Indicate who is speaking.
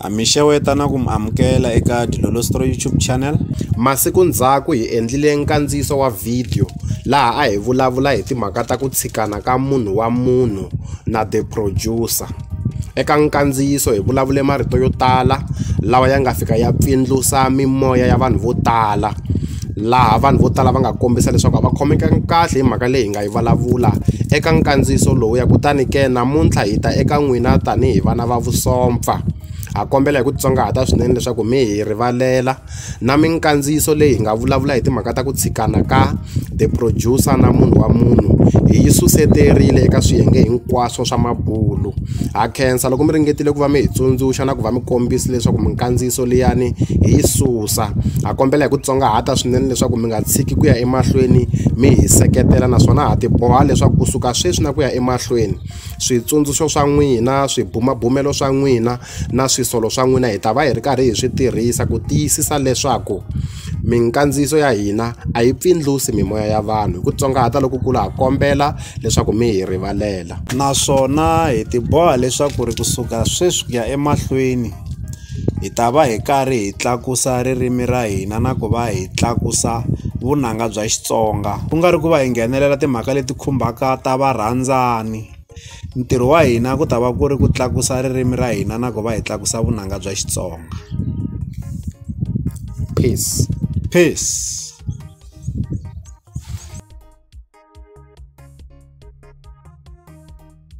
Speaker 1: Ha mi xeweta na ku mi amukela eka Dilolostro YouTube channel. Masiku ndzhaku hi endlile nkandziyiso wa video laha a hi vulavula hi timhaka ta ku tshikana ka munhu wa munhu na the producer. Eka nkandziyiso hi vulavule marito yo tala lawa ya nga fika ya pfindlusa mimoya ya vanhu vo tala. laha vanhu vo tala va nga kombisa leswaku a va khomekangi kahle hi mhaka leyi hi nga yi vulavula eka nkandziyiso lowuya kutani ke namuntlha hi ta eka n'wina tanihi vana va vusopfa ha kombela hi ku titsongahata swinene leswaku mi hi rivalela na minkandziyiso leyi hi nga vulavula hi timhaka ta ku tshikana ka the producer na munhu wa munhu hi yi suseterile eka swiyenge hinkwaswo swa mabulu ha khensa loko mi ringetile ku va mi hi tsundzuxa na ku va mi kombisa leswaku minkandziyiso liyani hi yi Ramaphosa. Ha kombela hi ku tsongahata swinene leswaku mi nga tshiki ku ya emahlweni mi hi seketela naswona ha tiboha leswaku kusuka sweswi na ku ya emahlweni switsundzuxo swa n'wina swibumabumelo swa n'wina na swisolo swa n'wina hi ta va hi ri karhi hi swi tirhisa ku tiyisisa leswaku minkandziyiso ya hina a yi pfindlusi mimoya ya vanhu hi ku tsongahata lokukulu ha kombela leswaku mi hi rivalela naswona hi tiboha leswaku ri kusuka sweswi ku ya emahlweni hi ta va hi karhi hi tlakusa ririmi ra hina na ku va hi tlakusa vunanga bya Xitsonga ku nga ri ku va hi nghenelela timhaka leti khumbaka ta varhandzani ntirho wa hina ku ta va ku ri ku tlakusa ririmi ra hina na ku va hi tlakusa vunanga bya Xitsonga peace peace